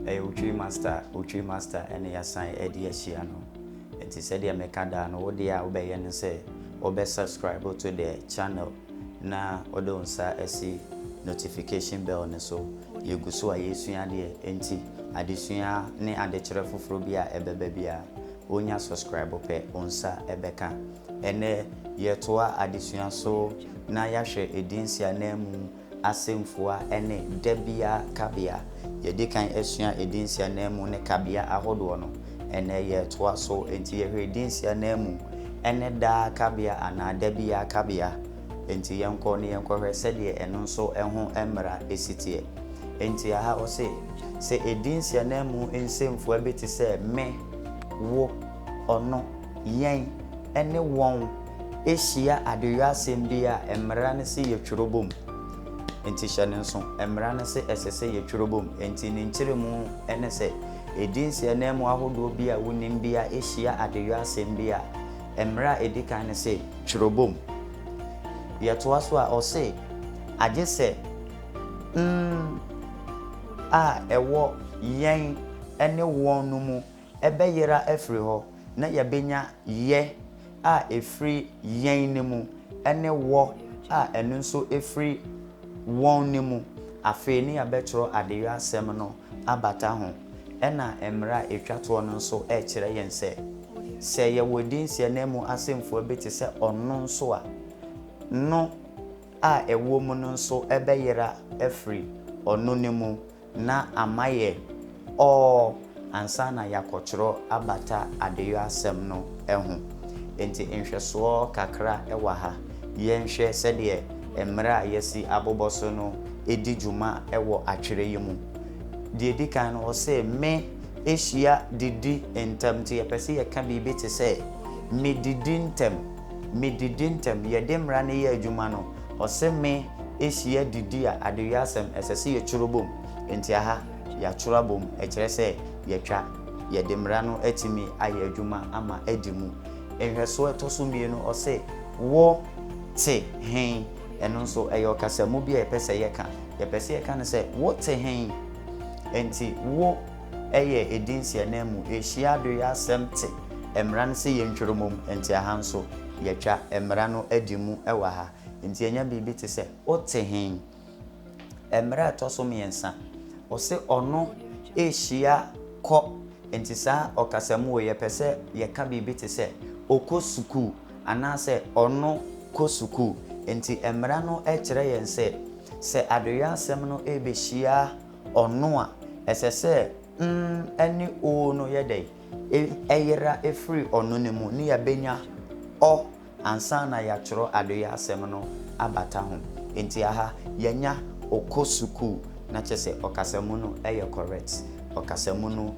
Ɛyɛ Otwiri Master, Otwiri Master ɛna yɛasan ɛde ahyia no. Nti sɛdeɛ meka daa no, wo deɛ a wobɛyɛ ne sɛ wobɛ subscribe to the channel na wode wo nsa asi notification bell no so. Yɛgu so a yɛresua adeɛ, enti adesua ne adekyerɛ foforɔ bi a ɛbɛba biara, wonya subscribe pɛ, wo nsa ɛbɛka. Ɛnnɛ, yɛtoa adesua so na yɛahwɛ edin siananmu asɛmfua ne da biara kabea. Yɛadi kan asua edin siananmu ne kabea ahodoɔ no. Ɛnnɛ, yɛretoa so, enti yɛhwɛ edin siananmu ne daa kabea anaa da biara kabea. Enti yɛnkɔ na yɛnkɔhwɛ sɛdeɛ ɛno nso ho mmara si teɛ. Enti aha ɔse, Sɛ edin siananmu nsɛmfua bi te sɛ me, wo, ɔno, Yɛn ne wɔn hyia adewuasɛm bi a, mmara no se yɛtwerɛ bɔ mu. Enti hyɛ no nso, mmara no se ɛsɛ sɛ yɛtwerɛ bɔ mu. Enti ne nkyerɛmu ne sɛ, ɛdin si ananmu ahodoɔ bi a wonim bi a ɛhyia adewuasɛm bi a, mmara a ɛdi kan no se twerɛ bɔ mu. Yɛtoa so a, ɔse, agye sɛ mm a ɛwɔ yɛn ne wɔn no mu ɛbɛyera afiri hɔ na yɛbɛnya yɛ a ɛfiri yɛn no mu ne wɔ a ɛno nso firi wɔn no mu. Afei ne yɛabɛtwerɛ adeyɔ asɛm no abata ho. Ɛna mmerɛ a ɛtwa toɔ no nso rekyerɛ yɛn sɛ, sɛ yɛwɔ dinsi ananmu asɛmfua bi te sɛ ɔno nso a, no a ɛwɔ mu no nso bɛyera afiri ɔno no mu na ama yɛ ɔɔ ansa na yɛakɔtwerɛ abata adeyɔ asɛm no ho. Enti nhwɛsoɔ kakra wɔ ha. Yɛnhwɛ sɛdeɛ mmerɛ a yɛasi abobɔ so no di dwuma wɔ atwerɛ yi mu. Deɛ ɛdi kan no, ɔse me hyia didi ntɛm nti yɛpɛ sɛ yɛka biribi te sɛ, medidi ntɛm, medidi ntɛm. Yɛde mmara no yɛ adwuma no, Ɔse me ehyia didi a adewiasɛm ɛsɛ sɛ yɛtwerɛ bom nti aha yɛatwerɛ abom ɛkyerɛ sɛ yɛatwa yɛde mmara no atumi ayɛ adwuma ama adi mu. Nhwɛsoɔ ɛtɔ so mmienu ɔse wo te hen ɛno nso ɛyɛ ɔkasamu bi a yɛpɛ sɛ yɛka yɛpɛ sɛ yɛka no sɛ wo te hen nti wo yɛ edin si ananmu, ehyia do yɛ asɛm tse mbra no sɛ yentwer mu mom, ntsi aha nso yɛtwa mbra no di mu wɔ ha. Ntsi yenya biribi tse sɛ. Otse hen? Mbra a ɛtɔ so mmiɛnsa, ɔse ɔno ehyia kɔ, ntsi saa ɔkasa mu o, yɛpɛ sɛ yɛka biribi tse sɛ okɔ sukuu anaasɛ ɔno kɔ sukuu. Ntsi mbra no kyerɛ yɛn sɛ, sɛ adoyɛ asɛm no ebehyia. Ɔno a, ɛsɛ sɛ mm ne oo no yɛ dɛn? Ɛyera firi ɔno no mu ne yɛabɛnya ɔ ansa na yɛatwerɛ adeyɛ asɛm no abata ho. Enti aha yɛanya ɔkɔ sukuu na kyerɛ sɛ ɔkasamu no yɛ correct. Ɔkasamu no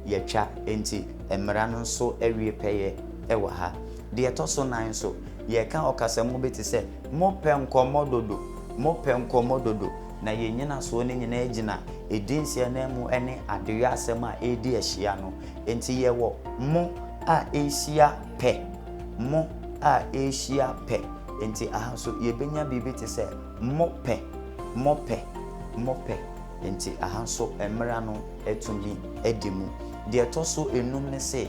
yɛatwa enti mmara no nso awie pɛyɛ wɔ ha. Deɛ ɛtɔ so nan nso, yɛreka ɔkasamu bi te sɛ, Mopɛ nkɔmmɔ dodo, mopɛ nkɔmmɔ dodo. na yɛn nnyinasoɔ no nyinaa gyina edin Seananmu ne adeyɔ asɛm a ɛredi ahyia no nti yɛwɔ mo a ɛrehyia pɛ, mo a ɛrehyia pɛ nti aha nso yɛbɛnya biribi te sɛ mo pɛ, mo pɛ, mo pɛ nti aha nso mmara no atumi adi mu. Deɛ ɛtɔ so enum ne se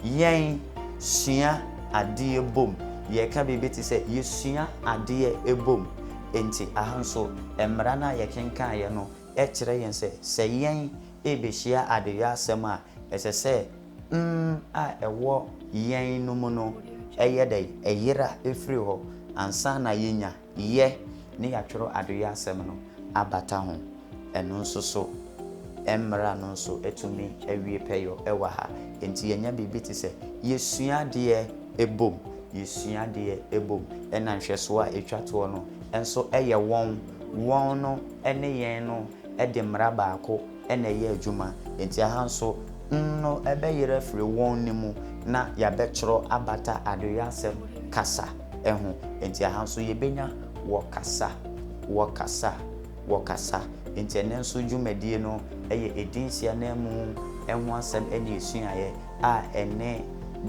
yɛn sua adeɛ bom, yɛka biribi te sɛ yɛsua adeɛ bom. Enti, ɛha nso, mmara no a yɛkenkaneɛ no kyerɛ yɛn sɛ, sɛ yɛn rebɛhyia adeyɔ asɛm a, ɛsɛ sɛ mm a ɛwɔ yɛn no mu no yɛ dɛn? Ɛyera firi hɔ ansa na yɛanya yɛ na yɛatwerɛ adeyɔ asɛm no abata ho. Ɛno nso so, mmara no nso tumi wie pɛyɔ wɔ ha. Enti yɛnya biribi te sɛ yɛsua adeɛ bom, yɛsua adeɛ bom. Ɛna nhwɛsoɔ a ɛtwa toɔ no nso yɛ wɔn, wɔn no ne yɛn no de mmara baako na ɛyɛ adwuma. Enti aha nso, n no bɛyera afiri wɔn no mu na yɛabɛtwerɛ abata adeyɔasɛm kasa ho. Enti aha nso yɛbɛnya wɔkasa, wɔkasa. wɔkasa. Enti ɛnnɛ nso dwumadie no yɛ edin si ananmu ho asɛm ne asuaeɛ a ɛne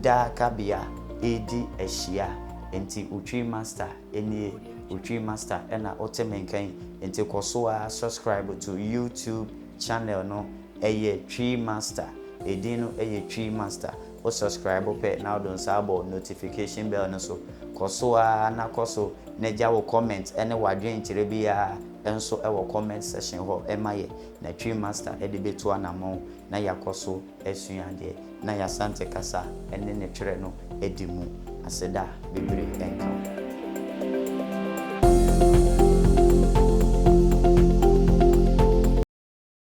daa kabea redi ahyia. Enti Otwi Master nie, Otwi Master na wote me nka yi. Enti kɔ so ara subscribe to YouTube channel no, ɛyɛ Twi Master, edin no yɛ Twi Master. Wo subscribe pɛ na wode wo nsa abɔ notification bell no so. Kɔ so ara na kɔ so na gya wo comment ne w'adwenkyerɛ biara nso wɔ comment section hɔ ma yɛ na Twi Master de bɛtu anamɔn na yɛakɔ so asua adeɛ na y'Asante kasa ne ne twerɛ no adi mu. Aseda bebree nka wo.